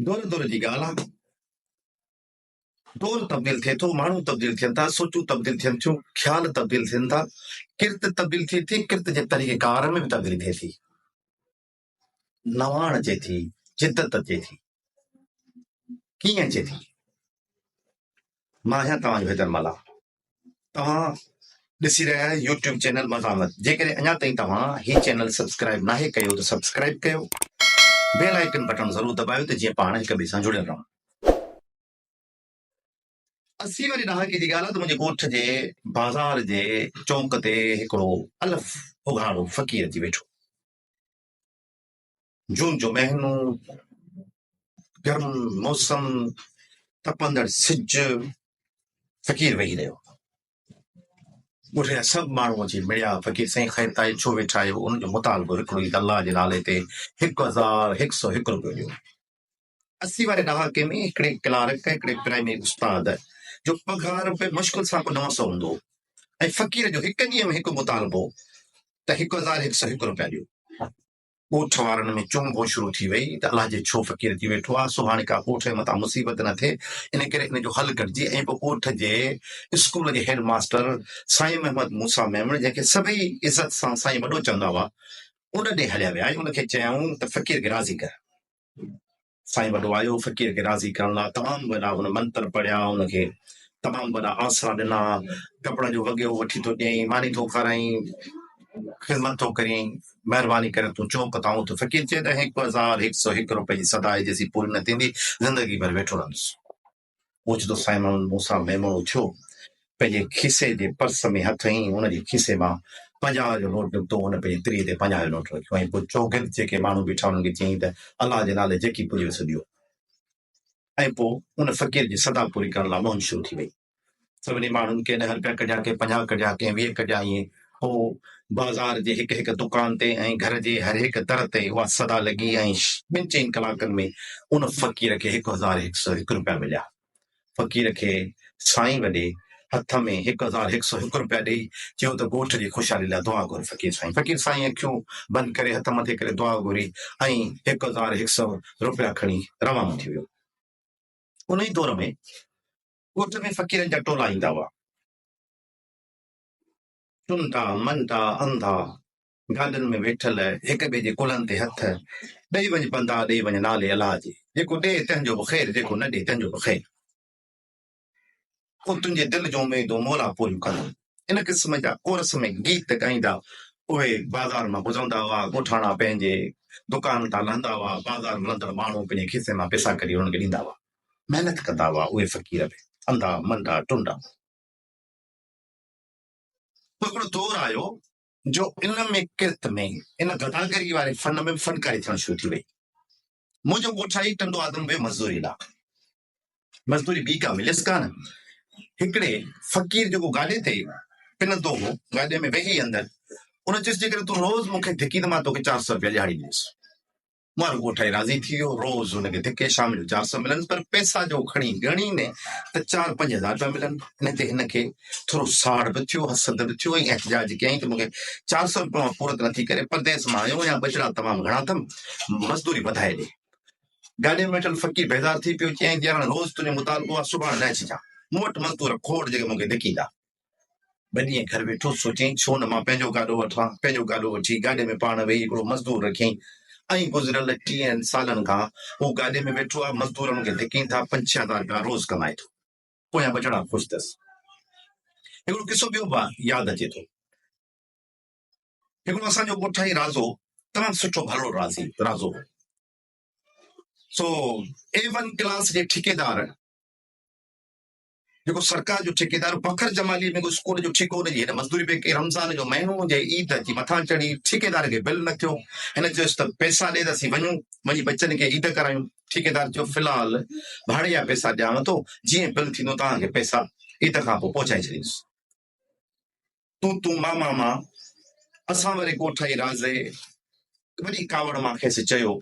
دور دور جي ڳالهه آ. دور تبديل ٿئي ٿو، ماڻهو تبديل ٿين ٿا، سوچون تبديل ٿين ٿيون، خيال تبديل ٿين ٿا، ڪرت تبديل ٿئي ٿي، ڪرت جي طريقه ڪار ۾ به تبديلي ٿئي ٿي. نواڻ اچي ٿي، جدت اچي ٿي. ڪيئن اچي ٿي؟ مان آهيان توهان جو حيدر ملاح. توهان ڏسي رهيا آهيو يوٽيوب چينل مزاحمت جيڪڏهن اڃا تائين توهان هي چينل سبسڪرائيب ناهي ڪيو ته سبسڪرائيب ڪيو بيل آئيڪن بٽڻ ضرور دٻايو ته جيئن پاڻ هڪ ٻئي سان جڙيل رهون. اسي واري ڏهاڪي جي ڳالهه آهي ته منهنجي ڳوٺ جي بازار جي چونڪ تي هڪڙو الف اگهاڙو فقير اچي ويٺو. جون جو مهينو، گرم موسم، تپندڙ سج، فقير ويهي رهيو. ڳوٺ جا سڀ ماڻهو اچي مڙيا، فقير سائين خير تائي ڇو ويٺا آهيو؟ ان جو مطالبو هڪڙو ئي ته الله جي نالي تي هڪ هزار هڪ سؤ هڪ روپيو ڏيو. اسي واري ڏهاڪي ۾ هڪڙي ڪلارڪ، هڪڙي پرائمري استاد جو پگهار به مشڪل سان ڪو نو سئو هوندو هو ۽ فقير جو هڪ ڏينهن ۾ هڪ مطالبو ته هڪ هزار هڪ سئو هڪ روپيا ڏيو. ڳوٺ وارن ۾ چون بون شروع ٿي وئي ته الله جي ڇو فقير ٿي ويٺو آهي، سو هاڻي ڪا ڳوٺ جي مٿان مصيبت نه ٿئي، ان ڪري ان جو حل ڪڍجي ۽ پوء ڳوٺ جي اسڪول جي هيڊ ماستر سائين محمد موسيٰ ميمڻ جنهن کي سڀئي عزت سان سائين وڏو چوندا هئا، ان ڏي هليا ويا ۽ ان کي چيائون ته فقير کي راضي ڪر. سائين وڏو آيو فقير کي راضي ڪرڻ لاء تمام وڏا هن منتر پڙهيا ان کي تمام وڏا آسرا ڏنا ڪپڙن جو وڳيو وٺي ٿو ڏيئين ماني ٿو کارائين خدمت ٿو ڪرين مهرباني ڪري تون چوپ ته آئون ٿو فقير چئي ته هڪ هزار هڪ سو هڪ روپئي جي صدا آهي جيسين پوري نه ٿيندي زندگي ڀر ويٺو رهندس. اوچتو سائين محمد موسيٰ ميمڻ اٿيو، پنهنجي کيسي جي پرس ۾ هٿ هنئي، ان جي کيسي مان پنجاهه جو نوٽ نڪتو، هن پنهنجي تري تي پنجاهه جو نوٽ رکيو ۽ پوء چوگرد جيڪي ماڻهو بيٺا انهن کي چيائين ته الله جي نالي جيڪي پڄيو سو ڏيو ۽ پوء ان فقير جي صدا پوري ڪرڻ لاء منهن شروع ٿي وئي. سڀني ماڻهن ڪي ڏهه رپيا ڪڍيا، ڪي پنجاهه ڪڍيا، ڪنهن ويهه ڪڍيا ائين هو بازار جي هڪ هڪ دڪان تي ۽ گهر جي هرهڪ در تي اها صدا لڳي ۽ ٻن چئن ڪلاڪن ۾ ان فقير کي هڪ هزار هڪ سئو هڪ رپيا مليا. فقير کي سائين وڏي هٿ ۾ هڪ هزار هڪ سئو هڪ رپيا ڏيئي چيو ته ڳوٺ جي خوشحالي لاء دعا گهر فقير سائين. فقير سائين اکيون بند ڪري هٿ مٿي ڪري دعا گهري ۽ هڪ هزار هڪ سئو رپيا کڻي روانو ٿي ويو. انهي دور ۾ ڳوٺ ۾ فقيرن جا ٽولا ايندا هئا. چنڊا، منڊا، انڌا گاڏين ۾ ويٺل هڪ ٻئي جي ڪلهن تي هٿ ڏئي وڃ پندا ڏئي وڃ نالي الله جي جيڪو ڏي تنهن جو به خير جيڪو نه ڏي تنهن جو به خير پوء تنهنجي دل جون اميدون مولا پوريون ڪندو ان قسم جا عرس ۾ گيت ڳائيندا اهي بازار مان گذرندا هئا ڳوٺاڻا پنهنجي دڪان تان لهندا هئا بازار ملندڙ ماڻهو پنهنجي کيسي مان پيسا ڪڍي انهن کي ڏيندا هئا محنت ڪندا هئا اهي فقير به انڌا منڊا ٽنڊا. پوء هڪڙو دور آيو جو ان ۾ ڪرت ۾ ان گداگري واري فن ۾ به فنڪاري ٿيڻ شروع ٿي وئي. منهنجو ڳوٺ آهي ٽنڊو آدم ويو مزدوري لاء. مزدوري ٻي ڪا مليس ڪانه. هڪڙي فقير جيڪو گاڏي تي پنندو هو گاڏي ۾ ويهي اندر ان چيس جيڪڏهن تون روز مون کي ڌڪي ته مان توکي چار سؤ روپيا ڏهاڙي ڏيندس. ماڻهو ڳوٺائي راضي ٿي ويو، روز هن کي ڌڪي شام جو چار سئو ملنس، پر پئسا جو کڻي ڳڻين ته چار پنج هزار پيا ملن، ان تي هن کي ٿورو ساڙ به ٿيو، حسد به ٿيو ۽ احتجاج ڪيائين ته مون کي چار سئو روپيا مان پورت نٿي ڪري، پرديس مان آيو آهيان، ٻچڙا تمام گهڻا اٿم، مزدوري وڌائي ڏي. گاڏيء ۾ ويٺل فقير بيزار ٿي پيو، چيائين ته يار هاڻي روز تنهنجو مطالبو آهي، سڀاڻي نه اچجان، مون وٽ مزدور کوڙ جيڪي مون کي ڌڪيندا. ٻه ڏينهن گهر ويٺو سوچيائين ڇو نه مان پنهنجو گاڏو وٺان، پنهنجو گاڏو وٺي گاڏي ۾ پاڻ ويهي هڪڙو مزدور رکيائين ۽ گذريل ٽيهن سالن کان هو گاڏي ۾ ويٺو آهي مزدورن کي ڌڪين ٿا پنج ڇهه هزار رپيا روز ڪمائي ٿو. پويان ٻچڙا خوش ٿيس. هڪڙو قصو ٻيو به ياد اچي ٿو. هڪڙو اسان جو ڳوٺائي رازو تمام سٺو ڀلڙو رازي رازو هو. سو اي ون ڪلاس جي ٺيڪيدار جيڪو سرڪار جو ٺيڪيدار فخر جمالي ۾ به اسڪول جو ٺيڪو ان جي هن مزدوري پيڪي رمضان جو مهينو هجي عيد اچي مٿان چڙهي ٺيڪيدار کي بل نه ٿيو هن چيس ته پئسا ڏي ته اسين وڃون وڃي ٻچن کي عيد ڪرايون ٺيڪيدار چيو في الحال ڀاڙي جا پئسا ڏيانو ٿو جيئن بل ٿيندو توهان کي پئسا عيد کان پوء پهچائي ڇڏيندس تون تون مان مان مان اسان وري ڪوٺائي رازي وڏي ڪاوڙ مان کيس چيو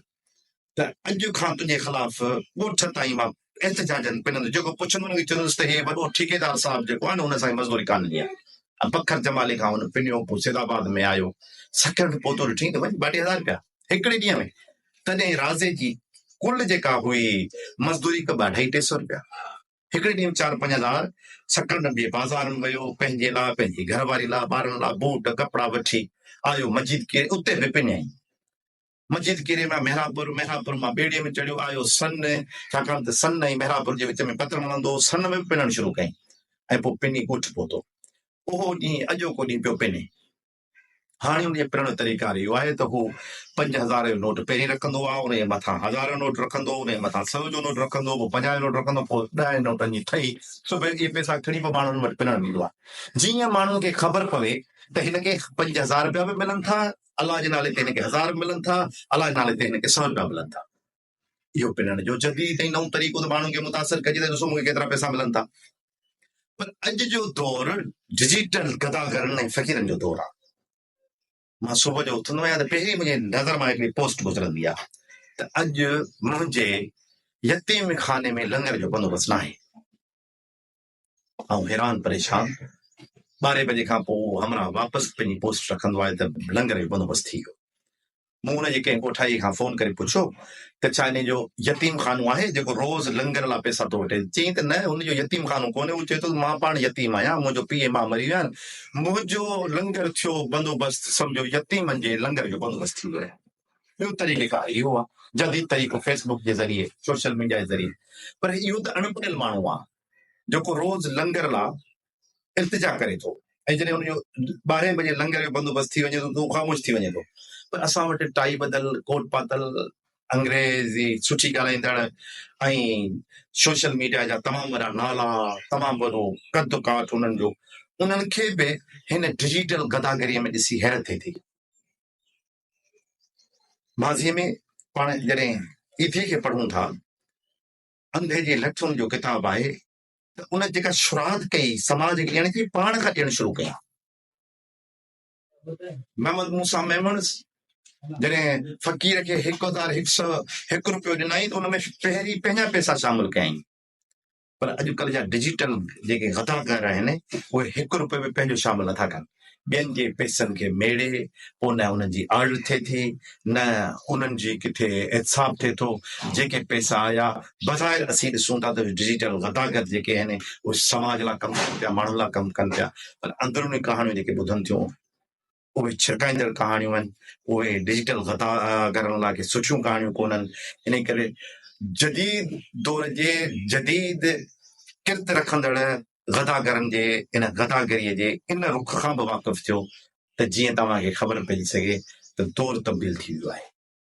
ته اڄ کان تنهنجي خلاف ڳوٺ تائين مان احتجاجن پنندس جيڪو پڇندو هو چوندس ته هي وڏو ٺيڪيدار صاحب جيڪو آهي نه ان سان هي مزدوري ڪانه ڏيندا ۽ بکر جمالي کان هن پنيو پوء سيد آباد ۾ آيو سڪرٽ پوتو ڏٺئي ته وڃ ٻاٽي هزار رپيا هڪڙي ڏينهن ۾ تڏهن رازي جي ڪل جيڪا هئي مزدوري ڪبه اڍائي ٽي سئو رپيا هڪڙي ڏينهن چار پنج هزار سڪنڊن جي بازارن ويو، پنهنجي لاء، پنهنجي گهر واري لاء، ٻارن لاء بوٽ ڪپڙا وٺي آيو مجيد ڪيري اتي به پڃائين. مجيد ڪيري مان مهراپور، مهراپور مان ٻيڙي ۾ چڙهيو آيو سن، ڇاڪاڻ ته سن ۽ مهراپور جي وچ ۾ پتڻ هلندو هو، سن ۾ به پنڻ شروع ڪئي ۽ پوء پني ڳوٺ پهتو. اهو ڏينهن اڄوڪو ڏينهن پيو پني. هاڻي ان جي پرڻ جو طريقار اهو آهي ته هو پنج هزار جو نوٽ پهرين رکندو آهي، ان جي مٿان هزار جو نوٽ رکندو، ان جي مٿان سئو جو نوٽ رکندو، پوء پنجاهه جو نوٽ رکندو، پوء ڏهن نوٽن جي ٿهي سڀ اهي پئسا کڻي پوء ماڻهن وٽ پرڻ ويندو آهي. جيئن ماڻهن کي خبر پوي ته هن کي پنج هزار رپيا به ملن ٿا، الله جي نالي تي هن کي هزار به ملن ٿا، الله جي نالي تي هن کي سئو رپيا ملن ٿا. اهو پنڻ جو جديد ۽ نئون طريقو ته ماڻهن کي متاثر ڪجي ته ڏسو مون کي ڪيترا پئسا ملن ٿا پر اڄ جو دور ڊجيٽل گداگرن ۽ فقيرن جو دور آهي مان صبح جو اٿندو آهيان ته پهرين منهنجي نظر مان هڪڙي پوسٽ گذرندي آهي ته اڄ منهنجي يتيم خاني ۾ لنگر جو بندوبست ناهي آئون حيران پريشان ٻارهين بجي کان پوء اهو همراهه واپس پنهنجي پوسٽ رکندو آيو ته لنگر جو بندوبست ٿي ويو. مون ان جي ڪنهن ڳوٺائيء کان فون ڪري پڇيو ته ڇا انهيء جو يتيم خانو آهي جيڪو روز لنگر لاء پئسا ٿو وٺي؟ چيائين ته نه هن جو يتيم خانو ڪونهي، هو چئي ٿو ته مان پاڻ يتيم آهيان، منهنجو پيء ۽ ماء مري ويا آهن، منهنجو لنگر ٿيو بندوبست سمجهو يتيمن جي لنگر جو بندوبست ٿي ويو آهي. ٻيو طريقيڪار اهو آهي جديد طريقو فيس بڪ جي ذريعي سوشل ميڊيا جي ذريعي پر اهو ته اڻ پڙهيل ماڻهو آهي. جيڪو روز لنگر لا التجا ڪري ٿو ۽ جڏهن ان جو ٻارهين بجي لنگر جو بندوبست ٿي وڃي ٿو ته هو خاموش ٿي وڃي ٿو پر اسان وٽ ٽائي ٻڌل ڪوٽ پاتل انگريزي سٺي ڳالهائيندڙ ۽ سوشل ميڊيا جا تمام وڏا نالا تمام وڏو قد ڪاٺ انهن جو انهن کي به هن ڊجيٽل گداگريء ۾ ڏسي حيرت ٿئي ٿي ماضيء ۾ پاڻ جڏهن ايٿي کي پڙهون ٿا انڌي جي لٺن جو ڪتاب آهي ته ان جيڪا شراد ڪئي سماج کي ڏيڻ جي پاڻ کان ڏيڻ شروع ڪيا محمد موسا ميمڻس جڏهن فقير کي هڪ هزار هڪ سو هڪ روپيو ڏنائين ته ان ۾ پهرين پنهنجا پئسا شامل ڪيائين پر اڄڪلهه جا ڊجيٽل جيڪي غداڪار آهن اهي هڪ روپيو به پنهنجو شامل نٿا ڪن ٻين جي پئسن کي ميڙي پوء نه انهن جي آڙ ٿئي ٿي نه انهن جي ڪٿي احتساب ٿئي ٿو، جيڪي پئسا آيا بظاهر اسين ڏسون ٿا ته ڊجيٽل غداگر جيڪي آهن اهي سماج لا ڪم ڪن پيا ماڻهن لا ڪم ڪن پيا پر اندروني ڪهاڻيون جيڪي ٻڌن ٿيون اهي ڇرڪائيندڙ ڪهاڻيون آهن اهي ڊجيٽل غداگرن لا ڪي سٺيون ڪهاڻيون ڪونهن ان ڪري جديد دور جي جديد ڪرت رکندڙ غداگرن جي ان غداگريء جي ان رخ کان به واقف ٿيو ته جيئن توهان کي خبر پئجي سگهي ته دور تبديل ٿي ويو آهي.